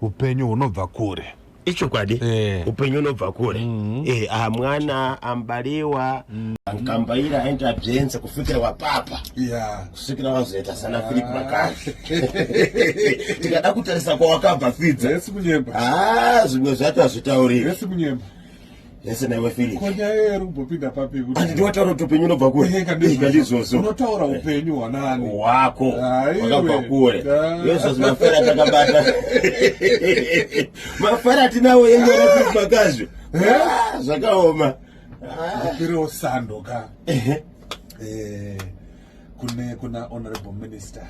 upenyu hunobva kure ichokwadi eh. upenyu unobva kure mm-hmm. eh, ah, mwana ambaliwa mm. nkambaira aenda byenze kufikira wapapa kusvikira wazoita sana filip ah. makazi tikada kutarisa kwawakabva fidza ah, zvimwe zvacho hazvitauriri Yes, never finish. Kwa nyaya yeru mbopinda papi kuti. Andi ndiwataura kuti upenyu unobva kure. Eh, kandi zozo. Unotaura eh. upenyu wanani? Wako. Ah, Wakabva kure. Yesu zimafera takabata. Mafara tinawo yenye rapi makazvi. Ah, zvakaoma. Kupiro ah. sando ka. Eh. Kune kuna honorable minister.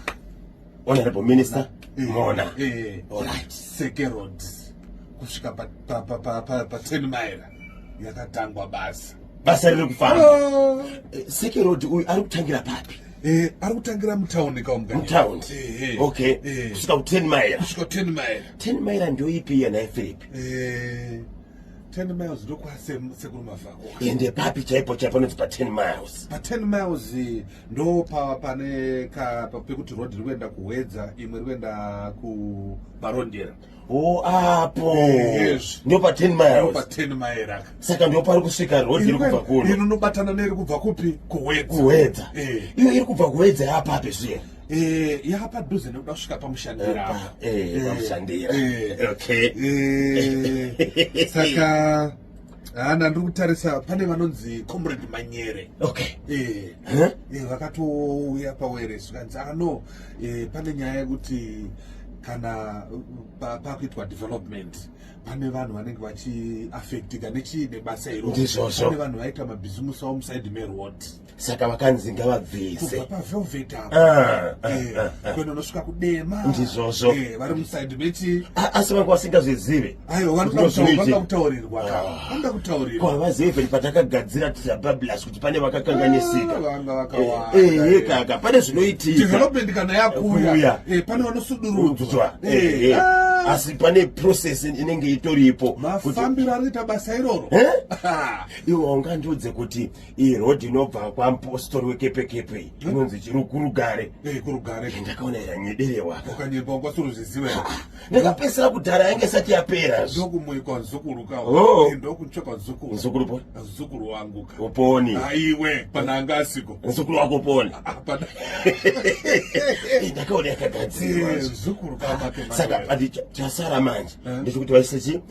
honorable minister eh, mona eh, eh, seke road kusvika pa10 mile yakatangwa basa basa riri kufamba oh. seke road uyu ari kutangira papi Eh, ari kutangira mutaundi kaumutaundi eh, eh, okay eh. kusvika ku10 mile kusvika ku10 mile 10 mile ndio ipi yena philip eh 10 miles ndokwase sekuru mavhako ende papi chaipo chaipo noti pa 10 miles pa 10 miles ndo pa pane ka pa- pekuti road riri kuenda kuhwedza imwe riri kuenda kubarondera o apo Yes. ndo pa 10 Ndo miles pa 10 maera aka saka ndo pari kusvika road iri kubva kuno inonobatana neiri kubva kupi kuhwedza kuhwedza Eh. iyo iri kubva kuhwedza yapape zviye Eh, yapadhuze nekuda kusvika pamushandira apa. Eh, pamushandira. Eh. Okay. Eh, saka Ah, ndandiri kutarisa pane vanonzi comrade manyere okay eh, huh? eh, vakatouya pawere zvikanzi ah no eh, pane nyaya yekuti kana pakuitwa pa development pane vanhu vanenge vachiaffectika nechii nebasa iroo pane vanhu vaita mabhizimusi avo muside meroad saka vakanzi ngavabvise kubva pavelvet apo ah, ah, eh, ah, kuenda unosvika kudema ndizvozvo eh, vari musaidi meti asi vanga vasingazvizive aiwa vanoda kutaurirwa vanoda kutaurirwa havazive vheri patakagadzira tirabablas kuti pane vakakanganisika ehe kaka pane zvinoitika development kana yakuuya eh, pane vanosudurudzwa asi pane process inenge itoripo mafambiro anoita basa iroro iwe ungandiudze kuti iyi road inobva kwamupostori wekepekepe iyi hmm? inonzi chiri kurugare eh, kurugare eh, ndakaona yanyederewa ukanyepa ukasorozviziva ndakapesera kudhara yange isati yapera ndokumoikwa zukuru ka oh. eh, ndokutsvekwa zukuru zukuru poni zukuru wangu ka uponi aiwe ah, pana anga asiko zukuru wako uponi ah, ah, ndakaona yakagadzirwa zukuru ka saka chasara manje ndechikuti vaise chi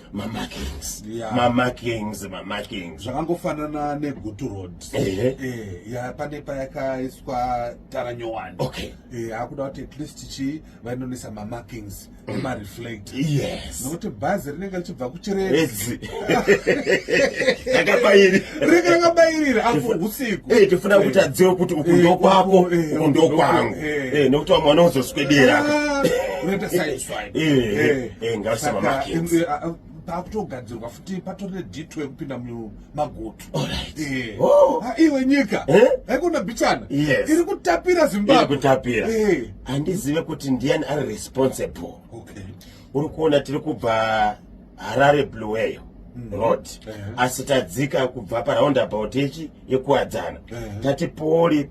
zvakangofanana negutu road eh, pane payakaiswa tara nyowani eh, akuda kuti at least chii vainonisa mamarkings mm. emareflect nokuti bhazi rinenge richibva kuchiredzi rinenge rakabayirira apo usiku eh, tofuna kuti adziwe kuti uku ndokwako uku ndokwangu nokuti vamwe vanozoswedera ah, unoita saiswai Eh, saka eh, ah, ah, pakutogadzirwa futi patori nedito yekupinda mumagoto eh. oh. ah, iwe nyika haikona bichana iri kutapira zimbabwekutapira handizive kuti ndiani ari responsible uri kuona tiri kubva harare blueyo mm. road asi tadzika kubva paraundabout yechi yekuwadzana tati pori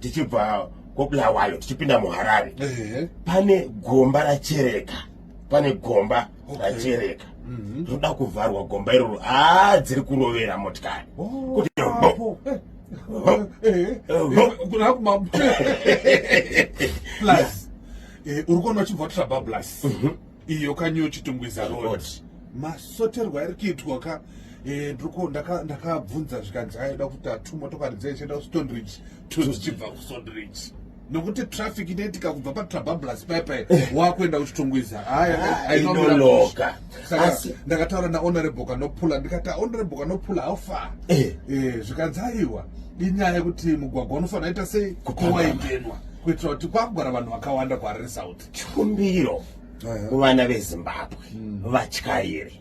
tichibva kobulawayo tichipinda muharare pane gomba rachereka pane gomba rachereka mhm. rinoda kuvharwa gomba iroro haa dziri kurovera motikari oh, eh, uri kuona uchibva trabablas mhm. iyo kanyo chitungwiza road masoterwa ari kuitwa ka eh, ndiko ndakabvunza zvikanzi aida kuti atu motokari dzaichienda kustondridge tozichibva kustondridge nokuti traffic inoitika kubva patrabablas paipai eh. wakuenda kuchitungwiza hayainoloka ah, saka ndakataura nahonorable kanopula ndikati honorable kanopula haufa eh. zvikanzi aiwa inyaya yekuti mugwagwa unofanira ita sei kuwaingenwa kuitira kuti kwakugara vanhu vakawanda kuhariri south chikumbiro kuvana vezimbabwe hmm. vatyairi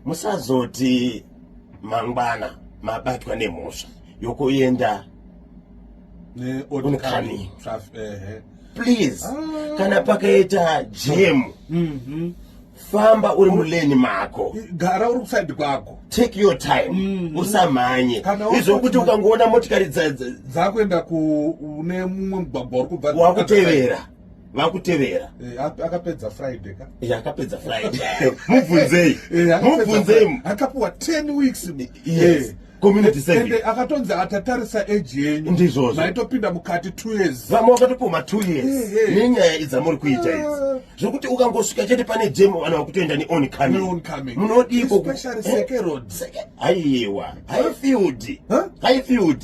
musazoti mangwana mabatwa nemhosva yokuenda unkani please ah. kana pakaita jemu mhm. famba uri muleni mako gara uri kusaidi kwako take your time mhm. usamhanye izvokuti ukangoona motikari dzakuenda kune mumwe mugwagwa uri kubva wakutevera vakutevera eh, akapedza friday ka eh, akapedza friday mubvunzei eh, mubvunzei akapuwa 10 weeks yes community service and akatonzi atatarisa age yenyu ndizvozvo maitopinda mukati 2 years vamwe vakatopoma 2 years nenyaya idzamuri kuita idzi ah. zvekuti ukangosvika chete pane jam vanhu vakutoenda ne on coming on coming munodii ko especially seke road aiwa high field high field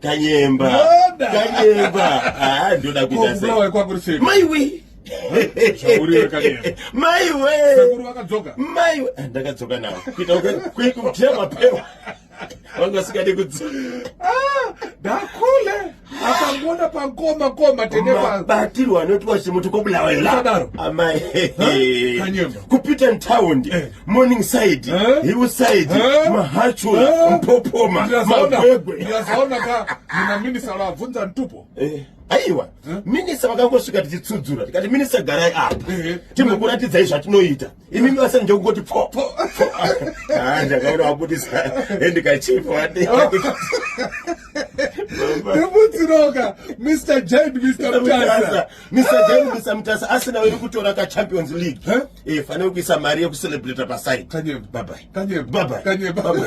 kanyemba kanyemba ah, ndoda kuita sei maiwe maiwe ah, ndakadzoka nawo kuita kutia mapewa vanga vasikadi kudzoka ah, ndakule akangona pangoma koma tenebatirwa anotiwa chimuti kobulawa iladaro amai kupita ntaundi eh. morning side eh? hill side eh? mahachula eh? mpopoma magwegwe ndikazoona ka muna minisa vabvunza ntupo eh. aiwa eh? minisa vakangosvika tichitsudzura tikati minisa garai apa eh, eh. timbokuratidzai zvatinoita imi mibasa nje kungoti po ah, ndakaona wabudisa endikachifa wade nemutsiroka mr jad mr mtasa Mr. Jane Mr. Mtasa asina wene kutora ka Champions League. Huh? Eh, fane kuisa mari yeku celebrate pa side. Kanye. Bye bye. Kanye. Bye bye. Kanye. Bye bye.